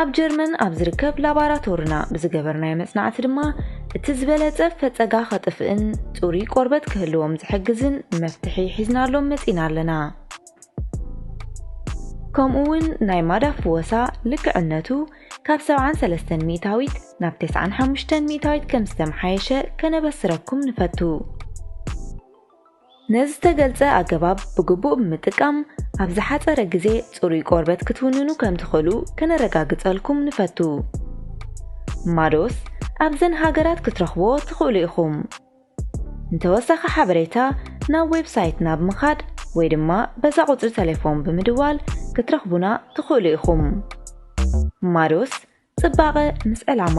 ኣብ ጀርመን ኣብ ዝርከብ ላባራቶርና ብዝገበርናዮ መጽናዕቲ ድማ እቲ ዝበለጸ ፈጸጋ ከጥፍእን ጽሩይ ቆርበት ክህልዎም ዝሕግዝን መፍትሒ ሒዝናሎም መጺና ኣለና ከምኡ እውን ናይ ማዳ ፍወሳ ልክዕነቱ ካብ 73 ሚእታዊት ናብ 95 ሚእታዊት ከም ዝተመሓየሸ ከነበስረኩም ንፈቱ ነዝተገልጸ ኣገባብ ብግቡእ ብምጥቃም፣ ኣብ ዝሓጸረ ግዜ ጽሩይ ቆርበት ክትውንኑ ከም ትኽእሉ ከነረጋግጸልኩም ንፈቱ። ማዶስ ኣብዘን ሃገራት ክትረኽብዎ ትኽእሉ ኢኹም። ንተወሳኺ ሓበሬታ ናብ ዌብ ሳይትና ብምኻድ ወይ ድማ በዛ ቁጽሪ ተሌፎን ብምድዋል ክትረኽቡና ትኽእሉ ኢኹም። ማዶስ ጽባቐ ምስ ዕላማ!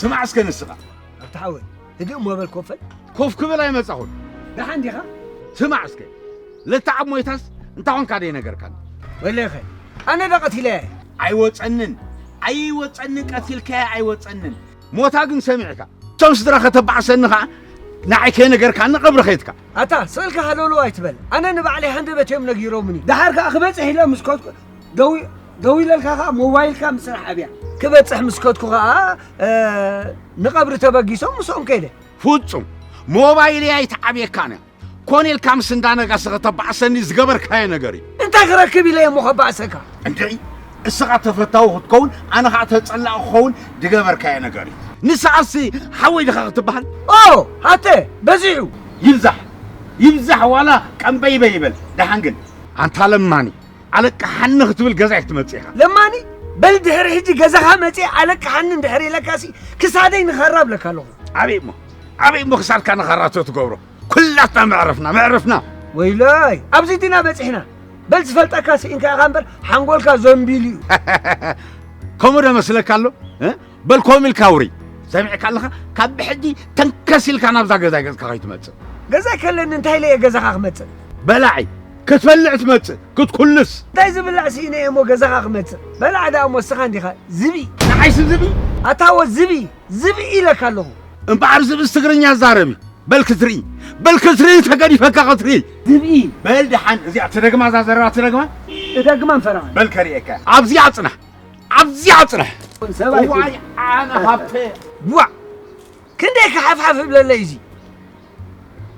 ስማዕ እስከ ንስኻ ኣብቲ ሓወይ ህድእ እሞ በል ኮፈል ኮፍ ክብል ኣይመጻኹን ደሓን ዲኻ ስማዕ እስከ ለተዓብ ሞይታስ እንታይ ኾንካ ደይ ነገርካኒ ወለኸ ኣነ ዶ ቀቲለያ ኣይወፀንን ኣይወፀንን ቀቲልካያ ኣይወፀንን ሞታ ግን ሰሚዕካ እቶም ስድራ ከተባዕሰኒ ከዓ ንዓይ ከይነገርካኒ ቀብሪ ከይትካ ኣታ ስእልካ ሃለውለው ኣይትበል ኣነ ንባዕለይ ሃንደበት እዮም ነጊሮምኒ ድሓር ከዓ ክበፅሕ ኢለ ምስ ከድኩ ደዊ ደዊለልካ ከዓ ሞባይልካ ምስራሕ ኣብያ ክበፅሕ ምስ ከድኩ ከዓ ንቐብሪ ተበጊሶም ምስኦም ከይደ ፍፁም ሞባይለይ ኣይትዓብየካን እያ ኮን ኢልካ ምስ እንዳነጋሰ ከተባዕሰኒ ዝገበርካዮ ነገር እዩ እንታይ ክረክብ ኢለ እሞ ከባእሰካ እንድዒ እስኻ ተፈታዊ ክትከውን ኣነ ከዓ ተፀላእ ክኸውን ዝገበርካዮ ነገር እዩ ንስኻሲ ሓወይ ድኻ ክትበሃል ኦ ሃተ በዚሑ ይብዛሕ ይብዛሕ ዋላ ቀንበይበ ይበል ደሓን ግን ኣንታ ለማኒ ኣለቃሓኒ ክትብል ገዛ ክትመፅእ ኢኻ ለማኒ በል ድሕሪ ሕጂ ገዛኻ መፅእ ኣለቃሓኒ እንድሕር ኢለካሲ ክሳደይ ንኸራ ብለካ ኣለኹ ኣበይ እሞ ኣበይ እሞ ክሳድካ ንኻራቶ ትገብሮ ኩላትና መዕረፍና መዕረፍና ወይለይ ኣብዚ ድና በፂሕና በል ዝፈልጠካ ስኢንካ ኢኻ እምበር ሓንጎልካ ዘንቢሉ እዩ ከምኡ ዶ መስለካ ኣሎ በል ከምኡ ኢልካ ውሪ ሰሚዕካ ኣለኻ ካብ ብሕጂ ተንከስ ኢልካ ናብዛ ገዛይ ገዝካ ከይትመፅእ ገዛይ ከለኒ እንታይ ኢለ እየ ገዛኻ ክመፅእ በላዒ ክትፈልዕ ትመፅእ ክትኩልስ እንታይ ዝብላዕ ስኢነ እየ እሞ ገዛኻ ክመፅእ በላዕ ደኣ እሞ እስኻ እንዲኻ ዝብኢ ንዓይሲ ዝብኢ ኣታወ ዝብኢ ዝብኢ ኢለካ ኣለኹ። እምበኣር ዝብእስ ትግርኛ ዛረብ እዩ። በል ክትርኢ በል ክትርኢ ተገዲፈካ ክትርኢ። ዝብኢ በል ደሓን እዚኣ ትደግማ እዛ ዘረባ ትደግማ እደግማ እንፈራማ በል ከርእየካ ኣብዚኣ ጽናሕ ኣብዚኣ ጽናሕ ሰብኣይ ዋይ ኣነ ሃብተ ዋእ ክንደይ ክሓፍሓፍ እብለለይ እዚ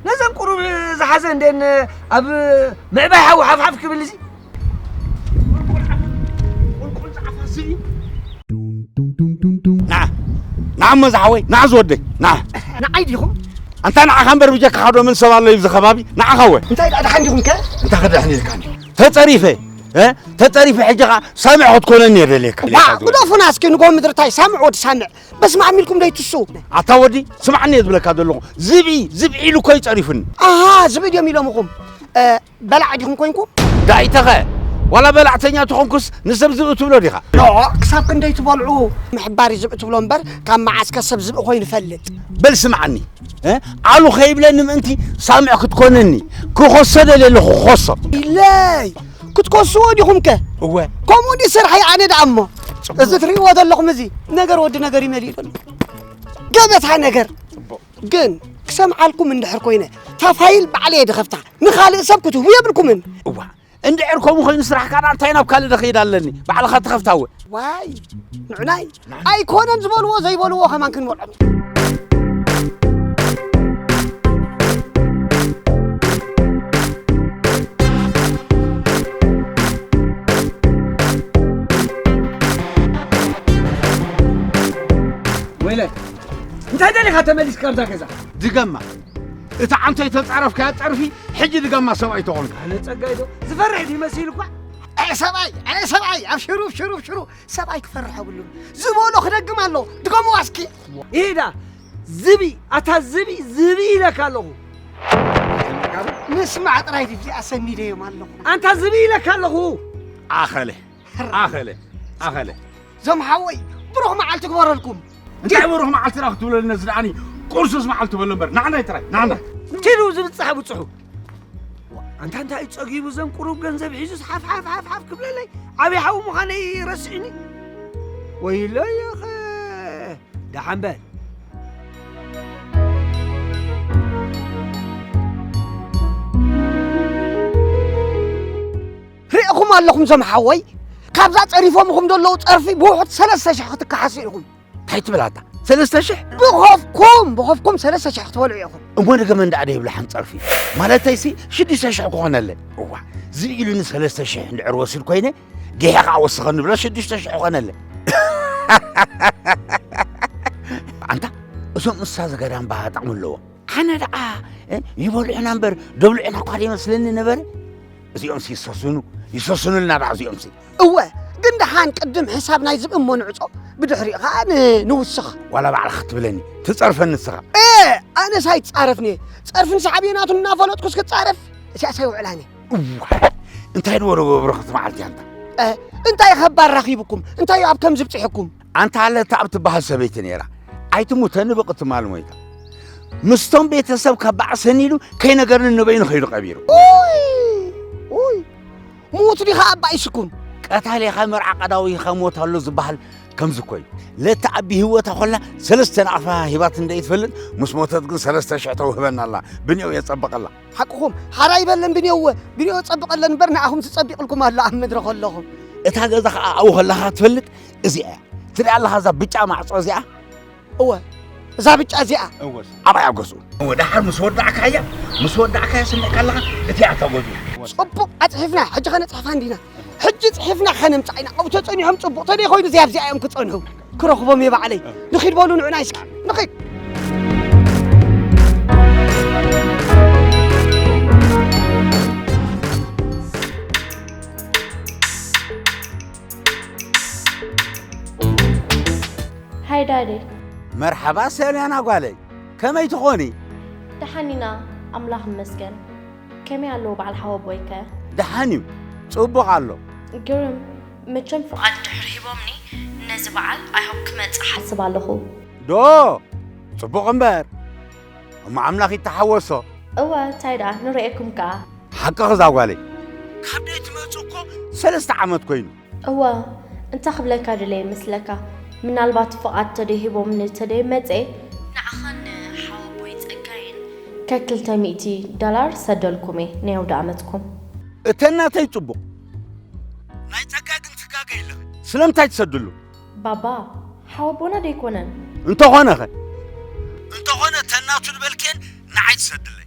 ነዘን ቁሩብ ዝሓዘ እንደን ኣብ ምዕባይ ሓዊ ሓፍሓፍ ክብል እዚ ቁልቁል ፃዕፋ ስኢ ንዓ ንዓ እሞ ዝሓወይ ንዓ ዝወደይ ንዓ ንዓይ ዲኹም ኣንታ ንዓኻ እምበር ብጀካ ሓደ ምን ሰብ ኣሎ ይብዚ ከባቢ ንዓኻ ወ እንታይ ደኣ ደሓን ዲኹም ከ እንታይ ከደሕን ኢልካኒ ተፀሪፈ ተጠሪፈ ሕጂ ከዓ ሳምዕ ክትኮነኒ እየ ደልየካ ግደፉና እስኪ ንጎ ምድርታይ ሳምዕ ወዲ ሳምዕ በስመ ዓም ኢልኩም ደይትሱ ኣታ ወዲ ስምዓኒ እየ ዝብለካ ዘለኹ ዝብኢ ዝብዒ ኢሉ እኮ እዩ ጸሪፉኒ ኣሃ ዝብኢ ድዮም ኢሎምኹም በላዕ ዲኹም ኮንኩም ዳኢተኸ ዋላ በላዕተኛ ተኾንኩስ ንሰብ ዝብኢ ትብሎ ዲኻ ኖ ክሳብ ክንደይ ትበልዑ ምሕባር እዩ ዝብኢ ትብሎ እምበር ካብ መዓስከ ሰብ ዝብኢ ኮይኑ ይፈልጥ በል ስምዓኒ እ? ዓሉ ከይብለኒ ምእንቲ ሳምዕ ክትኮነኒ ክኾሶ ደልየ ኣለኹ ክኾሶ ኢለይ ክትከስዎ ዲኹም ከ እወ ከምኡ ዲ ስርሐይ ኣነ ደኣ እሞ እዚ ትርእይዎ ዘለኹም እዚ ነገር ወዲ ነገር ይመልእ ዘሎ ገበታ ነገር ግን ክሰምዓልኩም እንድሕር ኮይነ እታ ፋይል ባዕለ እየ ድኸፍታ ንኻልእ ሰብ ክትህቡ የብልኩምን እዋ እንድሕር ከምኡ ኮይኑ ስራሕካ ዳኣ እንታይ ናብ ካልእ ደኸይድ ኣለኒ ባዕልኻ ትኸፍታ እወ ዋይ ንዑናይ ኣይኮነን ዝበልዎ ዘይበልዎ ከማን ክንበልዖም ኢና። ወይለ እንታይ ደሊኻ ተመሊስካ ኣብዛ ገዛ ድገማ እቲ ዓንተ የተፃረፍካያ ፀርፊ ሕጂ ድገማ ሰብኣይ ተኾንካ ኣነ ጸጋይ ዶ ዝፈርሕ ድዩ መሲሉ እኳ ኣይ ሰብኣይ ኣይ ሰብኣይ ኣብሽሩ ኣብሽሩ ኣብሽሩ ሰብኣይ ክፈርሕ የብሉን ዝበሎ ክደግም ኣሎ ድገምዋ እስኪ ይሄዳ ዝቢ ኣታ ዝቢ ዝቢ ኢለካ ኣለኹ ምስማዕ ጥራይ ድዚ ኣሰኒደዮም ኣለኹ ኣንታ ዝቢ ኢለካ ኣለኹ ኣኸለ ኣኸለ ኣኸለ ዞም ሓወይ ብሩኽ መዓልቲ ግበረልኩም እንታይ ብሩኽ መዓልትና ክትብለልና ዝደኣኒ ቁርሱስ መዓልቲ በሎ እምበር ናዕናይ ጥራይ ናዕና ትሉ ዝብፅሐ ብፅሑ ኣንታ እንታይ እዩ ጸጊቡ ዘን ቁሩብ ገንዘብ ሒዙስ ሓፍሓፍ ሓፍሓፍ ክብለለይ ዓብዪ ሓዊ ምዃነይ ረስዕኒ ወይሎ ይኸ ደሓን በል ሪእኹም ኣለኹም ዘምሓወይ ካብዛ ጸሪፎምኹም ዘለዉ ጸርፊ ብውሑድ ሰለስተ ሽሕ ክትከሓሱ ኢኹም እንታይ ትብል ኣታ ሰለስተ ሽሕ ብኸፍኩም ብኸፍኩም ሰለስተ ሽሕ ክትበልዑ ኢኹም እሞ ንገመ እንዳኣ ደይብላ ሓንፀርፊ ማለተይ ሲ ሽዱሽተ ሽሕ ክኾነለን እዋ ዝኢሉ ንሰለስተ ሽሕ እንድዕር ወሲድ ኮይነ ጌሐ ከዓ ወስኸ ንብሎ ሽዱሽተ ሽሕ ኮነለን ኣንታ እዞም እንስሳ ዘገዳም ባህ ጥቕሚ ኣለዎም ኣነ ደኣ ይበልዑና እምበር ደብልዑና እኳ ይመስለኒ ነበረ እዚኦም ሲ ይሰስኑ ይሰስኑልና ደኣ እዚኦም ሲ እወ ግን ደሓን ቅድም ሕሳብ ናይ ዝብእም ሞንዕጾ ብድሕሪኡ ከዓ ንውስኽ ዋላ ባዕልኻ ክትብለኒ ትጸርፈ ንስኻ እ ኣነስ ኣይትጻረፍኒ እየ ጸርፍን ሳዕቤናቱን እናፈለጥኩ እስክጻረፍ እዚኣስ ኣይውዕላኒ እዋይ እንታይ ንበሎ በብረኽት መዓልቲ ኣንታ እንታይ ከባድ ረኺብኩም እንታይ ኣብ ከም ዝብፅሕኩም ኣንታ ኣለታ ኣብ ትበሃል ሰበይቲ ነይራ ኣይትሙተ ንብቕ ትማል ሞይታ ምስቶም ቤተሰብ ከባዕ ሰኒዱ ከይነገርኒ ንበይኑ ከይዱ ቀቢሩ ምዉት ዲኻ ኣባ ኢስኩን? ቀታሊኻ መርዓ ቀዳዊኻ ሞት ኣሎ ዝበሃል ከምዚ እኮ እዩ ለቲ ኣቢ ህይወታ ኮላ ሰለስተ ናቕፋ ሂባት እንደ ይትፈልጥ ምስ ሞተት ግን ሰለስተ ሽሕ ተውህበና ኣላ ብንዮ የጸበቐላ ሓቅኹም ሓራ ይበለን ብንዮወ ብንዮ ጸብቐለን እምበር ንኣኹም ትጸቢቕልኩም ኣሎ ኣብ ምድሪ ከለኹም እታ ገዛ ከዓ ኣብኡ ከለኻ ትፈልጥ እዚኣ እያ ትሪኣ ኣለኻ እዛ ብጫ ማዕፆ እዚኣ እወ እዛ ብጫ እዚኣ ኣብኣያ ገዝኡ እወ ደሓር ምስ ወዳእካያ ምስ ወዳእካያ ስምዕካ ኣለኻ እቲኣ ተገዙ ፅቡቕ ኣፅሒፍና ሕጂ ከነፅሕፋ እንዲና ሕጂ ፅሒፍና ከነምፃእ ኢና ኣብኡ ተፀኒሖም ፅቡቕ ተደይ ኮይኑ እዚኣ ኣብዚኣ እዮም ክፀንሑ ክረኽቦም እየ ባዕለይ ንኺድ በሉ ንዑና ይስኪ ንኺድ ሃይ ዳዲ መርሓባ ሰልያና ጓለይ ከመይ ትኾኒ? ደሓን ኢና ኣምላኽ ይመስገን። ከመይ ኣለዉ በዓል ሓወቦይ ከ? ደሓን እዩ ጽቡቕ ኣሎ። ግርም መቸም ፍቓድ ድሕሪ ሂቦምኒ ነዚ በዓል ኣይሆፕ ክመጽእ ሓስብ ኣለኹ። ዶ ጽቡቕ እምበር እሞ ኣምላኽ ይተሓወሶ። እወ ታይ ደኣ ንርኤኩም ከኣ። ሓቅኺ እዛ ጓለይ ካብ ደይ ትመጹ እኮ ሰለስተ ዓመት ኮይኑ። እወ እንታይ ክብለካ ደለየ መስለካ ምናልባት ፍቓድ ተደይ ሂቦምኒ ተደይ መጼ ንዓኻን ንሓወቦይ ጸጋይን ከክልተ ሚእቲ ዶላር ሰደልኩም እየ ናይ ኣውደኣመትኩም። እተን ናተይ ጽቡቕ ናይ ጸጋይ ግን ትጋገይ ኣለኺ ስለምንታይ ትሰድሉ። ባባ ሓወቦና ዶ ኣይኮነን? እንተኾነ ከ? እንተኾነ እተን ናቱ ዝበልክየን ንዓይ ትሰድለይ።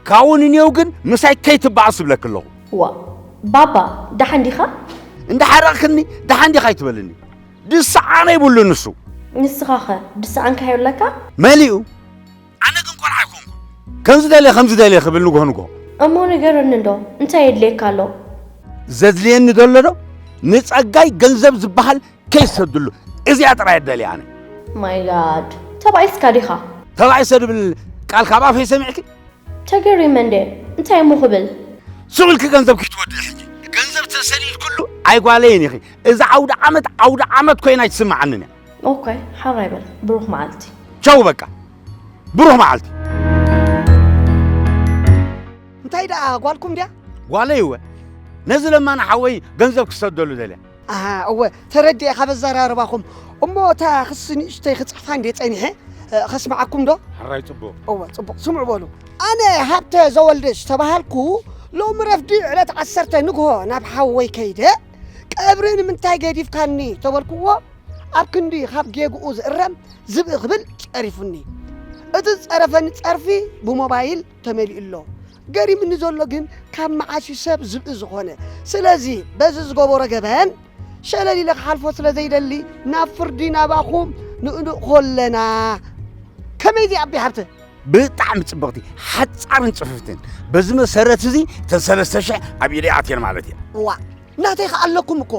ካብኡ ንኔው ግን ምሳይ ከይትበኣስ እብለኪ ኣለኹ። ዋእ ባባ ደሓን ዲኻ? እንዳሓረቕክኒ ደሓን ዲኻ ኣይትበልኒ። ድስዓነ ይብሉ ንሱ። ንስኻኸ ድስዓንካ ይብለካ? መሊኡ። ኣነ ግን ቆልዓ ኣይኮንኩን ከምዚ ደልየ ከምዚ ደልየ ክብል ንጎ ንጎ እሞ ንገረኒ እንዶ እንታይ የድልየካ ኣሎ ዘድልየኒ ዘሎ ዶ ንጸጋይ ገንዘብ ዝበሃል ከይሰድሉ እዚኣ ጥራይ ደልየ ኣነ ማይ ጋድ ተባኢስካ ዲኻ ተባዒሰ ድብል ቃል ካብ ኣፈይ ሰሚዕኪ ተገሪመ እንደ እንታይ እሞ ክብል ስቕ ኢልኪ ገንዘብ ክትወድኢ ሕጂ ገንዘብ ተሰሊልክሉ ኣይጓለይን ኢኺ እዛ ዓውደ ዓመት ዓውደ ዓመት ኮይና ኣይትስምዓንን እያ ኦከ ሓራይ በል ብሩኽ መዓልቲ። ቻው በቃ ብሩኽ መዓልቲ። እንታይ ደኣ ጓልኩም ድያ? ጓለይ እወ ነዚ ለማኒ ሓወይ ገንዘብ ክሰደሉ ደልያ። ኣሃ እወ ተረዲኤ ካብ ኣዘራርባኹም። እሞ እታ ክሲ ንእሽተይ ክጽሕፋ እንድየ ጸኒሐ ከስምዓኩም ዶ? ሕራይ ጽቡቕ። እወ ጽቡቕ ስምዑ በሉ። ኣነ ሃብተ ዘወልደ ዝተባሃልኩ ሎሚ ረፍዲ ዕለት ዓሰርተ ንግሆ ናብ ሓወይ ከይደ ቀብሪ ንምንታይ ገዲፍካኒ ተበልክዎ ኣብ ክንዲ ካብ ጌግኡ ዝእረም ዝብኢ ክብል ጸሪፉኒ እቲ ዝጸረፈኒ ጸርፊ ብሞባይል ተመሊኡ ኣሎ ገሪምኒ ዘሎ ግን ካብ መዓስ እዩ ሰብ ዝብኢ ዝኾነ ስለዚ በዚ ዝገበሮ ገበን ሸለል ኢለ ክሓልፎ ስለ ዘይደሊ ናብ ፍርዲ ናባኹም ንእንእኮ ኣለና ከመይ እዚ ኣቢ ሃብተ ብጣዕሚ ጽብቕቲ ሓጻርን ጽፍፍትን በዚ መሰረት እዚ እተን ሰለስተ ሽሕ ኣብ ኢደይ ኣትየን ማለት እየ እዋእ ናተይ ከ ኣለኩም እኮ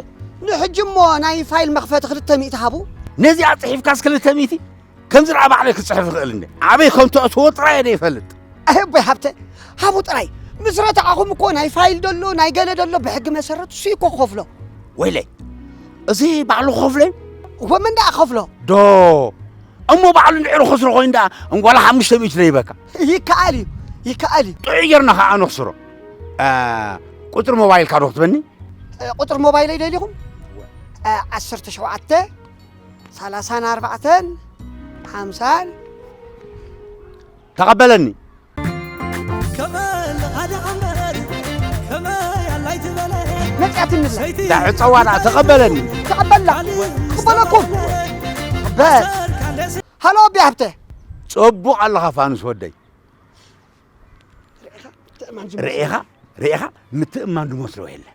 ንሕጂ እሞ ናይ ፋይል መኽፈቲ ክልተ ሚእቲ ሃቡ ነዚኣ ጽሒፍካስ ክልተ ሚእቲ ከምዚ ደኣ ባዕለይ ክጽሕፍ ይኽእል እንደ ኣበይ ከም ተእትዎ ጥራይ እየ ይፈልጥ ኣቦይ ሃብተ ሃቡ ጥራይ ምስ ረታዕኹም እኮ ናይ ፋይል ደሎ ናይ ገለ ደሎ ብሕጊ መሰረት እሱ እኮ ክኸፍሎ ወይለይ እዚ ባዕሉ ክኸፍሎ እዩ ወመን ደኣ ከፍሎ ዶ እሞ ባዕሉ እንድሕር ኹስሮ ኮይኑ ደኣ እንጓላ ሓሙሽተ ሚእቲ ዘይበካ ይከኣል እዩ ይከኣል እዩ ጥዑይ ጌርና ከዓ ነኽስሮ ቁፅሪ ሞባይልካ ዶ ክትበኒ ቁፅሪ ሞባይለይ ደሊኹም ዓሰርተ ሸውዓተ ሰላሳን ኣርባዕተን ሓምሳን ተቐበለኒ መጺኣትኒ ብላ እዛ ዕፀዋ ድኣ ተቐበለኒ ተቐበላ ክቕበለኩም በል ሃሎ ኣቢ ሃብተ ጸቡቕ ኣለኻ ፋኑስ ወደይ ርኢኻ ርኢኻ ምትእማን ድመስሎ የለን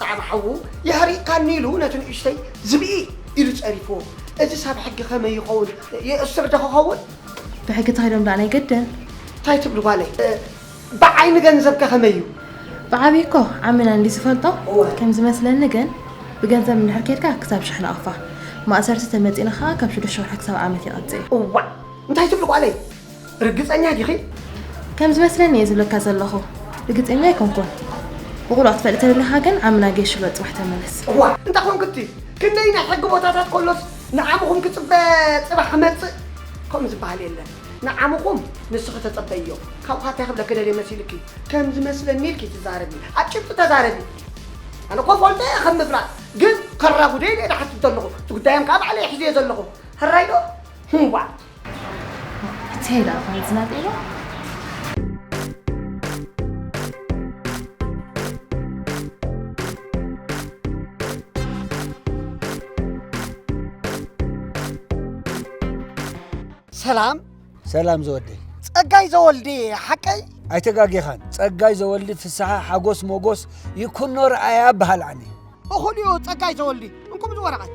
ኸኣ ብሓዉ የህሪቕካኒ ኢሉ ነቲ ንእሽተይ ዝብኢ ኢሉ ጸሪፍዎ። እዝስ ኣብ ሕጊ ከመይ ይኸውን? የእሱር ዶ ኽኸውን? ብሕጊ እንታይ ኢሎም ደኣ ናይ ገደል? እንታይ ትብሊ ጓለይ? ብዓይኒ ገንዘብከ ከመይ እዩ? ብዓብዪ እኮ ዓሚና እንድዩ ዝፈልጦ። እወ። ከም ዝመስለኒ ግን ብገንዘብ እንድሕር ኬድካ ክሳብ ሽሕ ናቕፋ ማእሰርቲ፣ ተመጺእና ኸኣ ካብ ሽዱሽተ ወርሒ ክሳብ ዓመት ይቐጽእ እዩ። እዋእ! እንታይ ትብሊ ጓለይ? ርግጸኛ ዲኺ? ከም ዝመስለኒ እየ ዝብለካ ዘለኹ ርግጸኛ ኣይኮንኩን። ብቑልዕ ክትፈልጥ ተደሊኻ ግን ዓምና ጌሽሎ ጽባሕ ተመለስ። እዋ እንታ ኮንክቲ ክንደይ ናይ ሕጊ ቦታታት ከሎስ ንዓምኹም ክጽበ ጽባሕ ክመጽእ ከምኡ ዝበሃል የለን። ንዓምኹም ንስኺ ተጸበይዮ። ካብኡ ኸኣ ታይ ክብለኪ ደልየ መሲልኪ ከም ዝመስለኒ ኢልኪ ትዛረቢ ኣብ ጭብጢ ተዛረቢ። ኣነ እኮ እፈልጦ እየ ከም ምፍላጥ ግን ከራጉደ ኢለ እየ ዝሓትት ዘለኹ እቲ ጉዳዮም ከኣ ባዕለይ ሒዘዮ ዘለኹ ሕራይ ዶ? ዋእ! ብታይ ደኣ ፋይል ዝናጤሎ ሰላም ሰላም ዘወደይ ጸጋይ ዘወልዲ ሓቀይ ኣይተጋጌኻን ጸጋይ ዘወልዲ ፍስሓ ሓጎስ ሞጎስ ይኩኖ ረኣያ በሃል ዓኒ እኹልዮ ጸጋይ ዘወልዲ እንኩም እዚ ወረቐት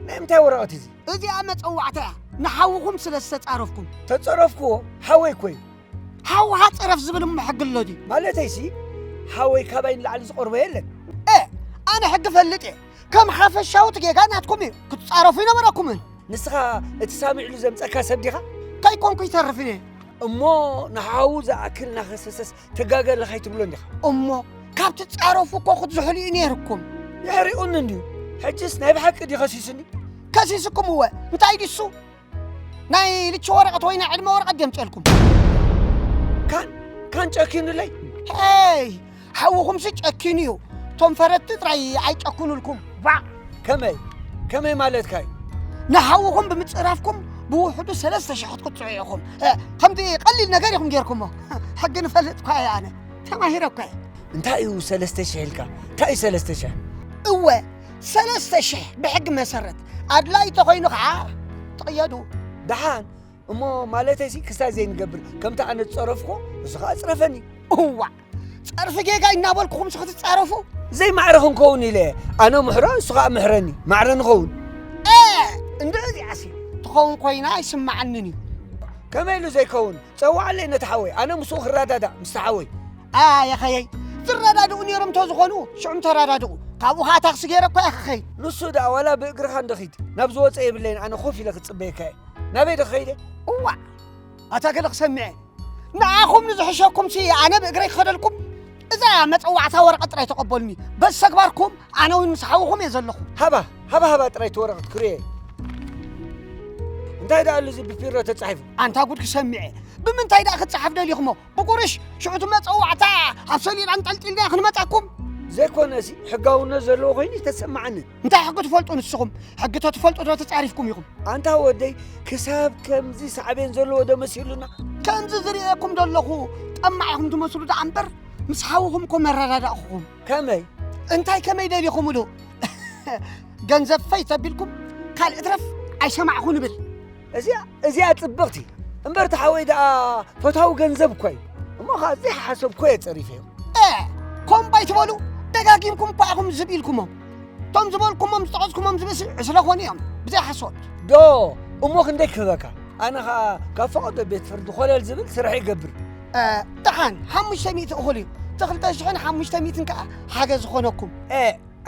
ናይ ምንታይ ወረቐት እዚ እዚኣ መጸዋዕታ እያ ንሓውኹም ስለ ዝተጻረፍኩም ተጸረፍክዎ ሓወይ ኮይ ሓውኻ ጸረፍ ዝብል እሞ ሕጊ ኣሎ ድዩ ማለተይሲ ሓወይ ካባይ ንላዕሊ ዝቐርቦ የለን እ ኣነ ሕጊ ፈልጥ እየ ከም ሓፈሻውት ጌጋ ናትኩም እዩ ክትጻረፉ ይነበረኩምን ንስኻ እቲ ሳሚዕሉ ዘምፀካ ሰብ ዲኻ ከይኮንኩ ይተርፍን እየ እሞ ንሓዉ ዝኣክል ናኸሰሰስ ትጋገ ኣለኻ ኣይትብሎ እንዲኻ እሞ ካብቲ ጻረፉ እኮ ክትዝሕሉ እዩ ነይርኩም ይሕሪኡኒ እንድዩ ሕጅስ ናይ ብሓቂ ድዩ ከሲሱኒ ከሲስኩም እወ እንታይ ድሱ ናይ ልቺ ወረቐት ወይ ናይ ዕድመ ወረቐት ደምጨልኩም ካን ካን ጨኪኑለይ ሄይ ሓውኹምሲ ጨኪኑ እዩ እቶም ፈረድቲ ጥራይ ኣይጨክኑልኩም ባዕ ከመይ ከመይ ማለትካ እዩ ንሓውኹም ብምፅራፍኩም ብውሕዱ ሰለስተ ሽሕ ክትቅፅዑ ኢኹም ከምዚ ቀሊል ነገር ኢኹም ጌርኩሞ ሕጊ ንፈልጥ እኳ እየ ኣነ ተማሂረ እኳ እየ እንታይ እዩ ሰለስተ ሽሕ ኢልካ እንታይ እዩ ሰለስተ ሽሕ እወ ሰለስተ ሽሕ ብሕጊ መሰረት ኣድላይ ተኾይኑ ከዓ ትቕየዱ ደሓን እሞ ማለተይ ሲ ክሳብ ዘይንገብር ከምቲ ኣነ ዝፀረፍኩ እዚ ከዓ ፅረፈኒ እዋ ፀርፊ ጌጋ እናበልኩኹም ሲ ክትፃረፉ ዘይማዕረ ክንከውን ኢለ ኣነ ምሕሮ ንሱ ከዓ ምሕረኒ ማዕረ ንኸውን እንደ እዚኣሲ ትኸውን ኮይና ኣይስማዓንን እዩ ከመይ ኢሉ ዘይከውን ጸውዓለይ ነቲ ሓወይ ኣነ ምስኡ ክረዳዳእ ምስቲ ሓወይ። ኣያኸየይ ዝረዳድኡ ነይሮም ተዝኾኑ ሽዑም ተረዳድኡ ካብኡ ከዓ ታክሲ ገይረ እኳ እየ ክኸይድ ንሱ ደኣ ዋላ ብእግርኻ እንደኺድ ናብ ዝወፀ የብለይን ኣነ ኮፍ ኢለ ክፅበየካ እየ ናበይ ዶ ከይደ እዋዕ ኣታ ገለ ክሰምዐ ንዓኹም ንዝሕሸኩምሲ ኣነ ብእግረይ ክኸደልኩም እዛ እያ መፀዋዕታ ወረቐት ጥራይ ተቐበሉኒ በዚ ተግባርኩም ኣነ እውን ምስ ሓውኹም እየ ዘለኹ ሃባ ሃባ ሃባ ጥራይ እቲ ወረቐት ክርእየ እንታይ ደኣ ኣሉ እዚ ብፊሮ ተጻሒፉ ኣንታ ጉድ ክሰሚዐ ብምንታይ ደኣ ክትፅሓፍ ደሊኹሞ ብቁርሽ ሽዑ እቲ መፀዋዕታ ኣብ ሰሌዳ ኣንጠልጢልና ክንመፃኩም ዘይኮነ እዚ ሕጋውነት ዘለዎ ኮይኑ ተሰማዓኒ እንታይ ሕጊ ትፈልጡ ንስኹም? ሕጊ ተትፈልጡ ዶ ተጻሪፍኩም ኢኹም? ኣንታ ወደይ ክሳብ ከምዚ ሳዕቤን ዘለዎ ዶ መሲሉና? ከምዚ ዝርእየኩም ዘለኹ ጠማዕ ኢኹም ትመስሉ ደኣ እምበር ምስ ሓውኹም እኮ መረዳዳእኹም። ከመይ እንታይ ከመይ ደሊኹምሉ? ገንዘብ ፈይ ተቢልኩም ካልእ ትረፍ ኣይሰማዕኹ ንብል። እዚኣ እዚኣ ጽብቕቲ እምበር እቲ ሓወይ ደኣ ፈታዊ ገንዘብ እኳ እዩ እሞ ኸዓ ዘይሓሰብኮ እየ ጸሪፈዮ ኮምባ ኣይትበሉ ደጋጊምኩም እኳ ኢኹም ዝብ ኢልኩሞም እቶም ዝበልኩሞም ዝጠቐስኩሞም ዝብሲ ዕስለ ኮኑ እዮም ብዘይ ሓሶት ዶ እሞ ክንደይ ክህበካ ኣነ ኸዓ ካብ ፈቐዶ ቤት ፍርዲ ኮለል ዝብል ስራሕ ይገብር ደሓን ሓሙሽተ ሚእቲ እኹል እዩ እቲ ክልተ ሽሕን ሓሙሽተ ሚእትን ከዓ ሓገዝ ዝኾነኩም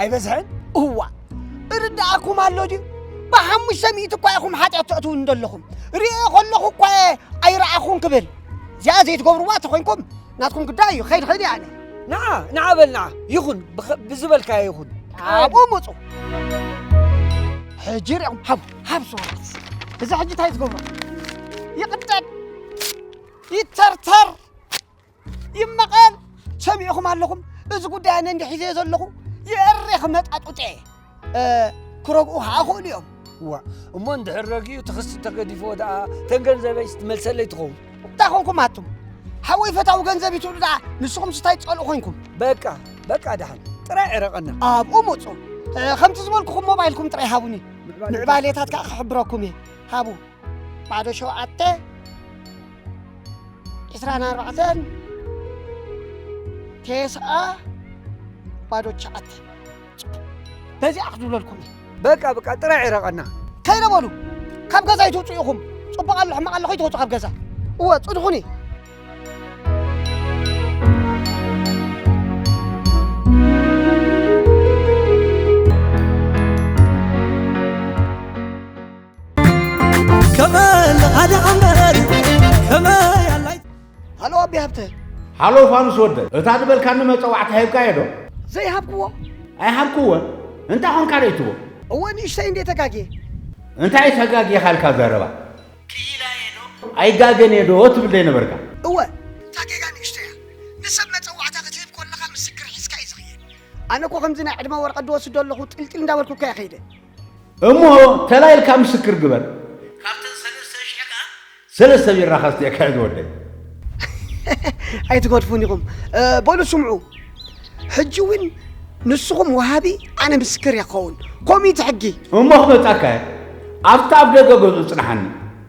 ኣይበዝሐን እዋ እርዳኣኩም ኣሎ ድዩ ብሓሙሽተ ሚእቲ እኳ ኢኹም ሓጢኣት ተእትውን ዘለኹም ርእየ ከለኹ እኳ ኣይረኣኹን ክብል እዚኣ ዘይትገብርዋ ተኮይንኩም ናትኩም ጉዳይ እዩ ኸይድ ኸይድ ያለ ንዓ ንዓ በል ንዓ ይኹን ብዝበልካዮ ይኹን ካብኡ ምፁ ሕጂ ሪኦም ሃብ ሃብ ሰዋት እዚ ሕጂ እንታይ ዝገብሮ ይቕደድ ይተርተር ይመቐል ሰሚዕኹም ኣለኹም እዚ ጉዳይ ኣነ እንዲ ሒዘዮ ዘለኹ የእሬ ክመጣጡጠ ክረግኡ ከዓ ክእሉ እዮም ዋ እሞ እንድሕር ረጊኡ ትኽስ ተገዲፍዎ ደኣ ተን ገንዘበይ ስትመልሰለይ ትኸውን እንታይ ኮንኩም ኣቱም ሓወይ ፈታዊ ገንዘብ ይትብሉ ደኣ ንስኹም ስታይ ትፀልኡ ኮንኩም በቃ በቃ ደሓን ጥራይ ዕረቐና ኣብኡ ምፁ ከምቲ ዝበልኩኹም ሞባይልኩም ጥራይ ሃቡኒ ምዕባሌታት ከዓ ክሕብረኩም እየ ሃቡ ባዶ ሸውዓተ ዕስራን ኣርባዕተን ቴስዓ ባዶ ትሽዓተ በዚኣ ክዝብለልኩም እዩ በቃ በቃ ጥራይ ዕረቐና ከይደ በሉ ካብ ገዛ ይትውፅኡ ኢኹም ፅቡቕ ኣሎ ሕማቕ ኣሎ ከይትወፁ ካብ ገዛ እወ ፅድኹኒ ሃሎ ኣቢ ሃብተ ሃሎ ፋኑስ ወደ እታ ዝበልካኒ መፀዋዕታ ሂብካ እየ ዶ ዘይሃብክዎ ኣይሃብክዎ እንታይ ኾንካ ደይትዎ እወ ንእሽተይ እንዴ ተጋግየ እንታይ ተጋግየ ካልካ ዘረባ ኣይጋገን እየ ዶ ትብል ዘይነበርካ እወ እታ ጌጋ ንእሽተይ እያ ንሰብ መፀዋዕታ ክትህብ ኮለኻ ምስክር ሒዝካ እዩ ዝኽየድ ኣነ እኮ ከምዚ ናይ ዕድመ ወረቐት ድወስዶ ኣለኹ ጥልጥል እንዳበልኩካ እየ ከይደ እሞ ተላይ ኢልካ ምስክር ግበር። ካብተን ሰለስተ ሽሕ ከኣ ሰለስተ ቢራ ከስትየ ክሕዝ ወደይ። ኣይትገድፉን ኢኹም በሉ ስምዑ ሕጂ እውን ንስኹም ወሃቢ ኣነ ምስክር እያ ክኸውን ኮሚት ሕጊ እሞ ክመጻካ እየ ኣብቲ ኣብ ደገ ገዝኡ ጽንሓኒ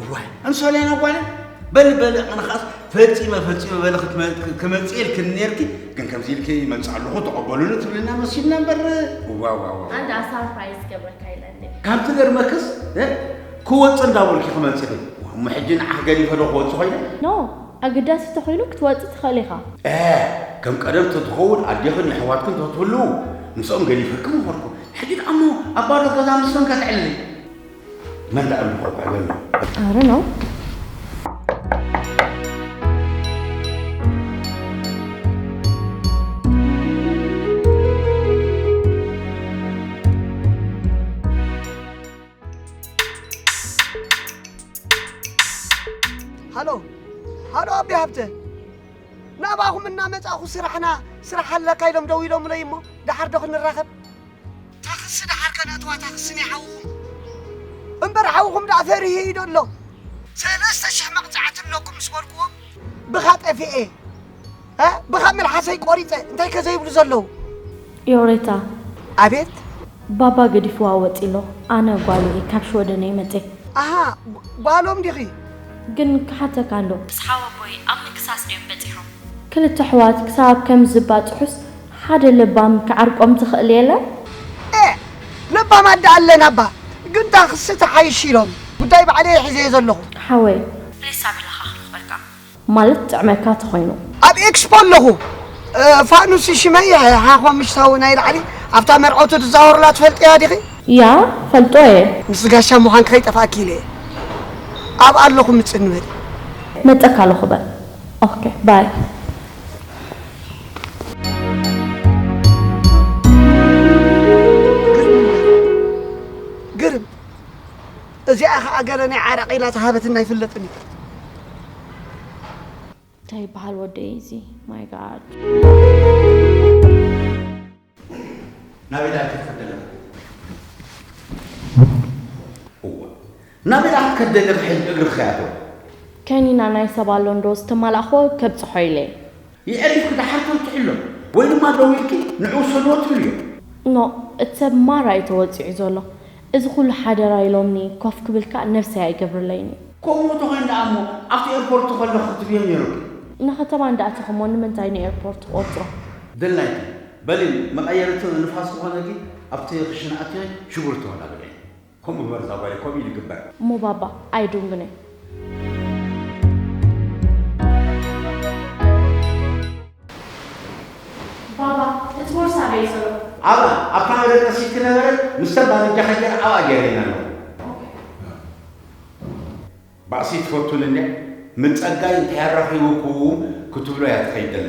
እዋይ ኣነ ሶልያና ጓለ በል በል ኣነኻስ ፈጺመ ፈጺመ በለ ክመጽእ ኢልክኒ ነርኪ ግን ከምዚ ኢልኪ ይመጽእ ኣለኹ ተቐበሉኒ ትብልና መሲልና እምበር ዋዋዋ ኣንድ ኣሳርፕራይዝ ገብረካ ኢለኒ ካብ ትገርመክስ ክወጽእ እንዳበልኪ ክመጽእ እሞ ሕጂ ንዓኽ ገዲፈ ዶ ክወጽእ ኮይነ ኖ ኣገዳሲ እንተኾይኑ ክትወጽእ ትኽእል ኢኻ ከም ቀደም ተትኸውን ኣዴኽን የሕዋትክን ተትህልው ምስኦም ገዲፈክም ነበርኩ ሕጂ ደኣ እሞ ኣብ ባዶ ገዛ ምስ መን ከተዕልሊ መን ዳኣ ኣሎ ቆልዓ መን እዩ? I don't know. ሃሎ ሃሎ ኣቤ ሃብተ ናባኹም እናመፃኹ ስራሕና ስራሕ ኣለካ ኢሎም ደው ኢሎምለይ እሞ ደሓር ዶ ክንራኸብ ታኽሲ ደሓር ከ ነእትዋ ታኽሲ ናይ ሓውኹም። እምበር ሓውኹም ደኣ ፈሪሁ እዩ ደሎ። ሰለስተ ሽሕ መቕጻዕቲ ኣለኩም ምስ በልኩዎም። ብኻ ጠፊኤ እ ብኻ መልሓሰይ ቆሪጸ እንታይ ከ ዘይብሉ ዘለዉ። ዮሬታ! ኣቤት! ባባ ገዲፍዋ ወጺ ኣሎ። ኣነ ጓሉ እየ ካብ ሽወደን እየ መጼ። ኣሃ ጓሎም ዲኺ? ግን ክሓተካ እንዶ። ምስ ሓወቦይ ኣብ ምክሳስ ድዮም በጺሖም። ክልተ ኣሕዋት ክሳብ ከምዚ ዝባጽሑስ ሓደ ለባም ክዓርቆም ትኽእል የለን። ኤእ ለባም ኣደ ኣለና እባ ግን ታክሲ ትሓይሽ ኢሎም ጉዳይ ባዕለይ ሒዘዮ ዘለኹ። ሓወይ። ፕሊስ ሳሚ ላኻ ክረኽበካ። ማለት ጥዕመካ ተኾይኑ። ኣብ ኤክስፖ ኣለኹ ፋኑሲ ሽመይ ሓኾምሽታዊ ናይ ላዕሊ ኣብታ መርዐውቲ ትዛወሩላ ትፈልጥያ ዲኺ። ያ ፈልጦ እየ። ምስ ጋሻ ምዃንኪ ከይጠፍኣኪ ኢለ እየ ኣብኣ ኣለኹ ምጽኒ በሊ። መጸካ ኣለኹ በል ኦኬ ባይ። ግርም እዚኣ ከዓ ገለ ናይ ዓረቕ ኢላ ዝሃበትና ኣይፍለጥን እዩ እንታይ ይበሃል ወደይ እዚ ማይ ጋድ ናበይ ድኣ ክትከድ ኣለኻ? እወ ናበይ ድኣ ክትከድ ደለኻ ሕጂ እግሪ ክኸይ ኣለዎ። ከኒና ናይ ሰብ ኣሎ እንዶ ዝተማላእክዎ ከብጽሖ ኢለ። የዕሪፍኪ ድሓር ተብጽሑ ኣሎ ወይ ድማ ደዊልኪ ንዑ ውሰድዎ ትብልዮ። ኖእ እቲ ሰብ ማራ እዩ ተወጺዑ ዘሎ እዚ ኩሉ ሓደራ ኢሎምኒ ኮፍ ክብል ከኣ ነብሰይ ኣይገብርለይን እዩ። ከምኡ እንተኾይኑ ደኣ እሞ ኣብቲ ኤርፖርት ከለኹ ክትብዮም ነይሩኪ። ንከተማ እንዳ ኣተኹ እሞ ንምንታይ ንኤርፖርት ትቆጽሮ? ደላይኪ በሊኒ መቀየሪ እቶ ንፋስ ክኾነኪ ኣብቲ ክሽነ ኣቲኺ ሽጉርቲ ተወዳድሪ ከምኡ ግበሪ እዛ ጓለይ ከምኡ እዩ ዝግበር። እሞ ባባ ኣይ ዱንግነ ባባ እቲ ቦርሳ ኣበይ ዘሎ? ኣብኣ ኣብ ካናዳ ተሲኪ ነበረት ምስተን ባልጃ ከጀረ ኣብኣ ገይረየን ኣለኹ። ባእሲ ትፈቱን እንድያ ም ጸጋይ እንታይ ኣራኺቡኩም ክትብሎ እያ ትኸይድ ዘላ።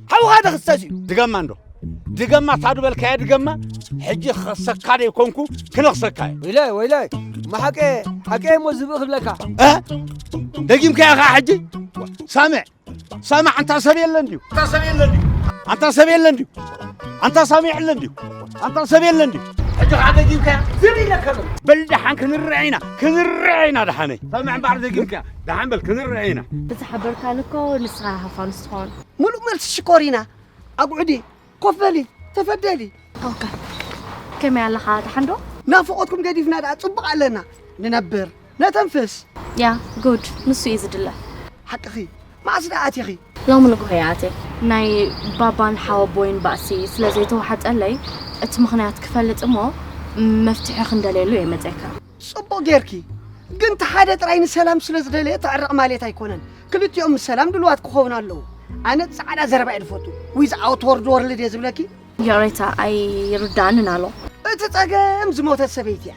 ሓውኻ ተኽሰስ እዩ ድገማ እንዶ ድገማ ታዱ በልካየ ድገማ ሕጂ ክኸሰካ ደይኮንኩ ክነኽሰካ እዩ ወይላይ ወይላይ ማሓቀ ሓቀ እሞ ዝብእ ክብለካ ደጊምካያ ኸዓ ሕጂ ሳምዕ ሳምዕ ኣንታ ሰብ የለን ድዩ ኣንታ ሰብ የለን ድዩ ኣንታ ሰብ የለን ድዩ ኣንታ ሳምዕ የለን ድዩ ኣንታ ሰብ የለን ድዩ ሕጂ ከዓ ደጊምካያ ዝብ ኢለካ ዘሎ በል ደሓን ክንርዐ ኢና ክንርዐ ኢና ደሓነይ ሳምዕ እምበኣር ደጊምካያ ደሓን በል ክንርዐ ኢና እቲ ሓበርካን እኮ ንስኻ ሃፋንስ ትኾን ምሉእ መልሲ ሽኮሪና ኣጉዕዲ ኮፍ በሊ ተፈደሊ ኦከ ከመይ ኣለኻ ደሓን ዶ ናፍቆትኩም ገዲፍና ደኣ ጽቡቕ ኣለና ንነብር ነተንፍስ ያ ጉድ ንሱ እዩ ዝድለ ሓቅኺ መዓስ ደኣ ኣቲኺ ሎሚ ንግሆ እየ ኣትየ ናይ ባባን ሓወቦይን ባእሲ ስለ ዘይተዋሓጠለይ እቲ ምኽንያት ክፈልጥ እሞ መፍትሒ ክንደልየሉ እየ መፅካ ጽቡቕ ጌርኪ ግን እቲ ሓደ ጥራይ ንሰላም ስለ ዝደለየ ተዕረቕ ማለት ኣይኮነን ክልቲኦም ንሰላም ድልዋት ክኸውን ኣለዉ ኣነ ጻዕዳ ዘረባ እየ ዝፈቱ ዊዝ ኣውት ወርድ ወርልድ እየ ዝብለኪ ይቕሬታ ኣይርዳእንን ኣሎ እቲ ጸገም ዝሞተት ሰበይቲ እያ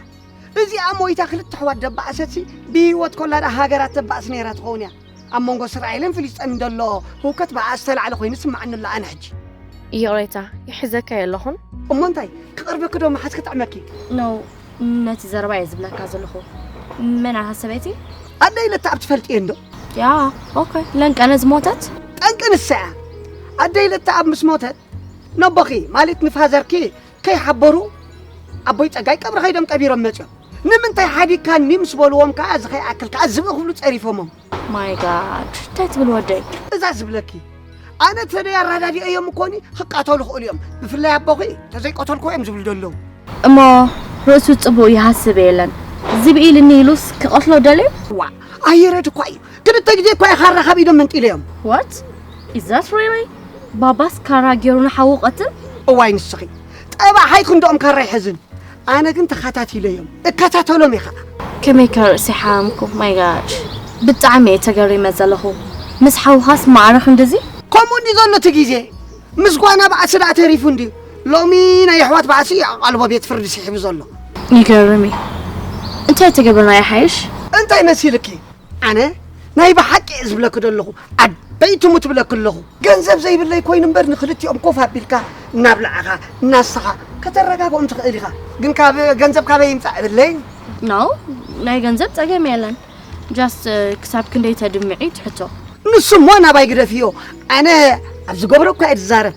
እዚኣ ሞይታ ክልተ ኣሕዋት ደባእሰትሲ ብህይወት ኮላ ደኣ ሃገራት ተባእስ ነይራ ትኸውን እያ ኣብ መንጎ እስራኤልን ፍልስጤምን ዘሎ ህውከት ብኣኣ ዝተላዕለ ኮይኑ ይስምዓኒ ኣሎ ኣነ ሕጂ። ይቕሬታ ይሕዘካ'የ ኣለኹን። እሞ እንታይ ክቐርበኪ'ዶ መሓዝ ክጥዕመኪ? ኖው ነቲ ዘረባ'የ ዝብለካ ዘለኹ። መን ኣታ ሰበይቲ? ኣደይ ለተኣብ ትፈልጥየን'ዶ? ያ ኦኬ ለንቀነ ዝሞተት? ጠንቂ ንሳ'ያ። ኣደይ ለተኣብ ምስ ሞተት ነቦኺ ማለት ንፋዘርኪ ከይሓበሩ ኣቦይ ጸጋይ ቀብሪ ከይዶም ቀቢሮም መጽኦም ንምንታይ ሓዲግካኒ ምስ በልዎም ከዓ እዚ ከይኣክል ከዓ ዝብኢ ክብሉ ጸሪፎሞም ማይ ጋድ እንታይ ትብል ወደይ እዛ ዝብለኪ ኣነ ተደይ ኣረዳዲኦ እዮም እኮኒ ክቃተሉ ክእሉ እዮም ብፍላይ ኣቦኺ ተዘይቀተልኩ እዮም ዝብሉ ዘለዉ እሞ ርእሱ ጽቡቅ ይሃስብ የለን ዝብኢ ኢልኒ ኢሉስ ክቐትሎ ደልዩ ዋ ኣየረድ እኳ እዩ ክልተ ግዜ እኳ ካራ ካብ ኢዶም መንጢለዮም። What? Is that really? ባባስ ካራ ገይሩ ንሓዉ ቀትል? እዋይ ንስኺ ጠባዕ ሓይ ክንድኦም ካራ ይሕዝን ኣነ ግን ተኸታቲለዮም እከታተሎም እየ ከዓ ከመይ ከ ርእሲ ሓመምኩ ማይ ጋድ ብጣዕሚ እየ ተገሪመ ዘለኹ ምስ ሓውኻስ ማዕረ ክንድዚ ከምኡ እንዲ ዘሎ እቲ ግዜ ምስ ጓና ባዕሲ ደኣ ተሪፉ እንድዩ ሎሚ ናይ ኣሕዋት ባዕሲ እዩ ኣቓልቦ ቤት ፍርዲ ስሒቡ ዘሎ ይገርም እዩ እንታይ ተገብርና ይሓይሽ እንታይ መሲልኪ ኣነ ናይ ብሓቂ እየ ዝብለኪ ዘለኹ ዓበይ ትሙት ብለኪ ኣለኹ ገንዘብ ዘይብለይ ኮይኑ እምበር ንክልቲኦም ኮፍ ኣቢልካ እናብላዕኻ እናሰኻ ከተረጋግኦም ትኽእል ኢኻ ግን ካብ ገንዘብ ካበይ ይምፃእ እብለይ ናው ናይ ገንዘብ ፀገም የለን ጃስት ክሳብ ክንደይ ተድምዒ ትሕቶ ንሱ እሞ ናባይ ግደፍዮ ኣነ ኣብ ዝገብሮ እኳ እየ ዝዛረብ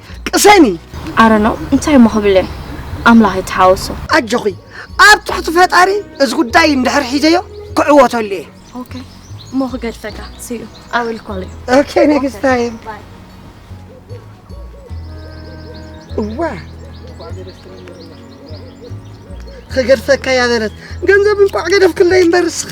ቅሰኒ። ኣረ ነው እንታይ እሞ ክብል እየ ኣምላኽ ይተሓወሶ። ኣጆኺ ኣብ ትሕቲ ፈጣሪ እዚ ጉዳይ እንድሕር ሒዘዮ ክዕወተሉ እየ። ኦኬ እሞ ክገድፈካ ስዩ ኣይ ዊል ኮል ዩ። ኦኬ ኔክስት ታይም። እዋ ክገድፈካ እያ በለት ገንዘብ እንቋዕ ገደፍክለይ እምበር እስኺ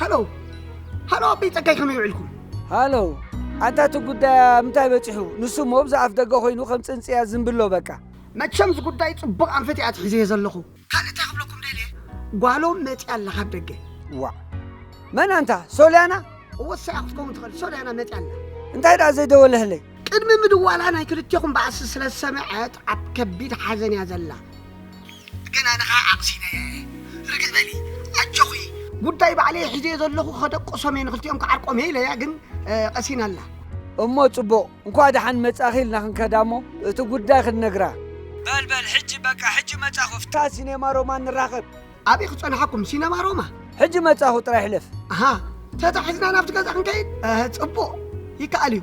ሃሎ ሃሎ ኣበይ ጸጋይ ከመይ ውዒልኩም ሃሎ ኣንታ እቲ ጉዳይ ምንታይ በፂሑ ንሱ እሞ ብዛ ኣፍ ደገ ኮይኑ ከም ፅንፅያ ዝንብሎ በቃ መቸም እዚ ጉዳይ ፅቡቕ ኣንፈት እያ ትሒዘ ዘለኹ ካልእ እንታይ ክብለኩም ደልየ ጓሎም መፅያ ኣላ ካብ ደገ ዋ መን ኣንታ ሶልያና እወ ሳያ ክትከውን ትኽእል ሶልያና መፅያ ኣላ እንታይ ደኣ ዘይደወለህለይ ቅድሚ ምድዋላ ናይ ክልቴኹም ባእሲ ስለ ዝሰምዐት ኣብ ከቢድ ሓዘን እያ ዘላ ግን ኣነ ከዓ ዓቕሲነየ ርግእ በሊ ኣጆኺ ጉዳይ ባዕለይ ሒዘየ ዘለኹ ከደቅሶም እየ ንክልቲኦም ክዓርቆም እየ ኢለያ ግን ቀሲና ኣላ እሞ ጽቡቕ እንኳ ደሓን መጻኺ ኢልና ክንከዳ እሞ እቲ ጉዳይ ክንነግራ በል በል ሕጂ በቃ ሕጂ መጻኹ ኣብታ ሲኔማ ሮማ ንራኸብ ኣብይ ክጸንሓኩም ሲነማ ሮማ ሕጂ መጻኹ ጥራይ ሕለፍ ኣሃ ተታሒዝና ናብቲ ገዛ ክንከይድ እ፣ ጽቡቕ ይከኣል እዩ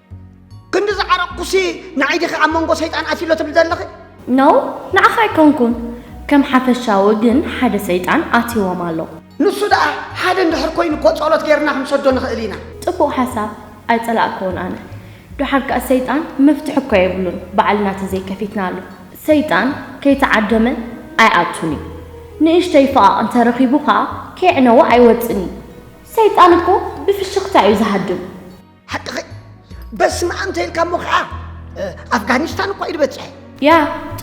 ክንዲ ዝዓረቕኩሲ ንዓይ ዲኺ ኣብ መንጎ ሰይጣን ኣትዩ'ሎ ትብሊ ዘለኺ? No ንዓኻ ኣይኮንኩን፣ ከም ሓፈሻዊ ግን ሓደ ሰይጣን ኣትይዎም ኣሎ። ንሱ ደኣ ሓደ እንድሕር ኮይኑ እኮ ጸሎት ጌርና ክንሰዶ ንኽእል ኢና። ጽቡቕ ሓሳብ ኣይጸላእክዎን ኣነ። ደሓር ከኣ ሰይጣን መፍትሒ እኮ የብሉን ባዕልና ተዘይከፊትናሉ። ሰይጣን ከይተዓደመ ኣይኣቱን እዩ፣ ንእሽተይ ፈቓቕ እንተረኺቡ ከኣ ከየዕነወ ኣይወጽእን እዩ። ሰይጣን እኮ ብፍሽኽታ እዩ ዝሃድም። ሓቅኺ በስመኣም ተይልካ እሞ ከዓ ኣፍጋኒስታን እኳ ኢሉ በፅሐ። ያ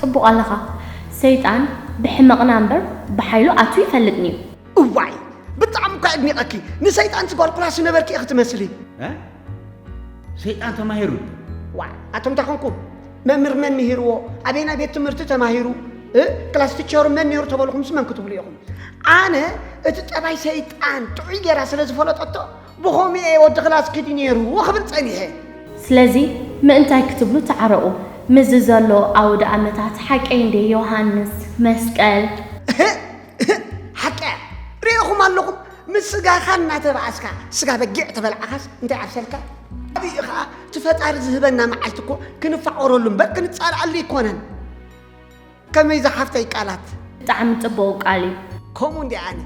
ፅቡቕ ኣለኻ ሰይጣን ብሕመቕና እምበር ብሓይሉ ኣትዩ ይፈልጥንዩ። እዋይ ብጣዕሚ እኳ ኣድኒቐኪ ንሰይጣን ትጓልኩላ ስነበርኪ ኢኺ ትመስሊ። እ ሰይጣን ተማሂሩ ዋ ኣቶም እንታይ ኮንኩ መምህር መን ምሂርዎ ኣበየናይ ቤት ትምህርቲ ተማሂሩ እ ክላስ ቲቸሩ መን ነይሩ ተበልኹምስ መን ክትብሉ ኢኹም ኣነ እቲ ጠባይ ሰይጣን ጥዑይ ጌራ ስለ ዝፈለጠቶ ብኸምኡ'የ ወዲ ክላስ ክዲ ነይሩ ክብል ጸኒሐ። ስለዚ ምእንታይ ክትብሉ ተዓረቑ። ምስዚ ዘሎ ኣውደኣመታት ሓቀይ እንድየ ዮሃንስ፣ መስቀል። እህእ እህእ ሓቂ'ያ ርእኹም ኣለኹም ምስ ስጋኻ እናተባኣስካ ስጋ በጊዕ ተበላዕኻስ እንታይ ኣብሰልካ? ኣብ'ዩ ኸኣ እቲ ፈጣሪ ዝህበና መዓልቲ እኮ ክንፋቐረሉ እምበር ክንጻልኣሉ ኣይኮነን። ከመይ ዝሓፍተይ ቃላት። ብጣዕሚ ጽቡቅ ቃል እዩ። ከምኡ እንድየ ኣነ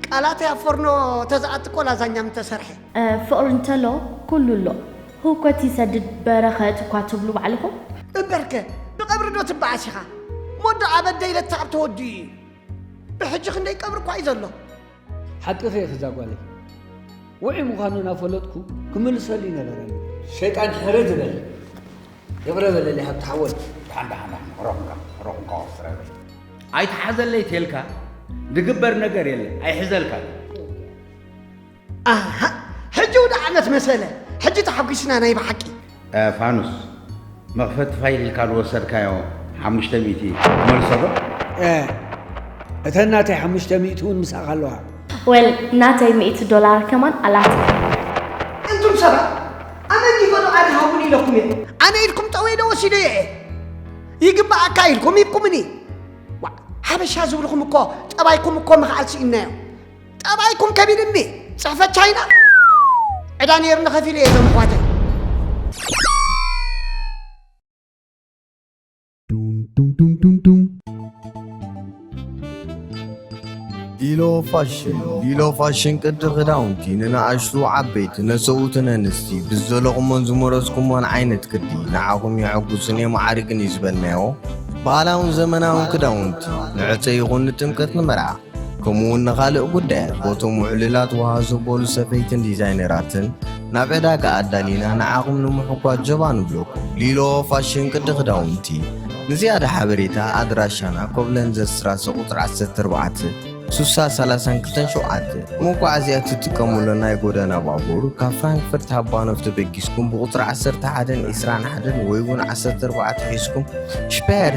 ቃላተይ ኣብ ፎርኖ ተዝኣቲ እኮ ላዛኛ ምተሰርሐ። ፍቕሪ እንተሎ ኩሉ ኣሎ። ህውከት ይሰድድ በረኸት እኳ ትብሉ ባዕልኹም። እምበርከ ብቀብሪ ዶ ትበኣስ ኢኻ ሞዶ ኣበደ ኢለትካ ኣብ ተወዲኡ ኢዩ ብሕጂ ክንደይ ቀብሪ እኳ ኢዩ ዘሎ። ሓቅኺ ኢኺ እዛ ጓለይ ውዑይ ምዃኑ እናፈለጥኩ ክምልሰሉ ይነበረኒ ሸይጣን ሕሪ ዝበል የብረ በለለይ ሃብቲ ሓወይ ደሓን ደሓን ደሓን ረኹንካ ረኹንካ ወፍረ በል ኣይትሓዘለይ ቴልካ ዝግበር ነገር የለ ኣይሕዘልካ ኣሃ ሕጂ ውድዓነት መሰለ ሕጂ ተሓጒስና ናይ ብሓቂ ፋኑስ መኽፈቲ ፋይል ኢልካ ዝወሰድካዮ ሓሙሽተ ሚእቲ መልሶ ዶ? እተን ናተይ ሓሙሽተ ሚእቲ እውን ምስኣኻ ኣለዋ። ወል ናተይ ሚእቲ ዶላር ከማን ኣላትኒ። እንቱም ሰባት ኣነ እንዲህ በሉ ኣነ ሃቡኒ ኢለኩም እየ። ኣነ ኢልኩም ጠው ኢለ ወሲደዮ እየ። ይግበኣካ ኢልኩም ሂብኩምኒ። ዋእ ሓበሻ ዝብልኹም እኮ ጠባይኩም እኮ ምኽኣል ስኢንናዮ። ጠባይኩም ከቢድ እምቢ ፅሕፈት ቻይና ዕዳ ነይርኒ ከፊለ እየ እዞም ኣሕዋተይ ዲሎ ፋሽን ዲሎ ፋሽን ቅዲ ክዳውንቲ ንነኣሽቱ ዓበይቲ ነሰውትን ኣንስቲ ብዘለኹሞን ዝመረዝኩሞን ዓይነት ቅዲ ንዓኹም የሐጉስን የመዓርግን እዩ ዝበልናዮ ባህላውን ዘመናውን ክዳውንቲ ንዕፀ ይኹን ንጥምቀት ንመርዓ ከምኡ ውን ንኻልእ ጉዳያት ቦቶም ውዕልላት ውሃ ዘበሉ ሰፈይትን ዲዛይነራትን ናብ ዕዳጋ ኣዳሊና ንዓኹም ንምሕጓት ጀባ ንብለኩም። ሊሎ ፋሽን ቅዲ ክዳውንቲ። ንዝያዳ ሓበሬታ ኣድራሻና ኮብለን ዘስራሰ ቁፅሪ 14 ሱሳ ሰላሳን ክልተን ሸውዓተ። መጓዓዝያ እትጥቀሙለን ናይ ጎደና ባቡር ካብ ፍራንክፈርት ሃባኖፍ ተበጊስኩም ብቁፅሪ 11ን 21ን ወይ ውን 14 ሒዝኩም ሽፓየር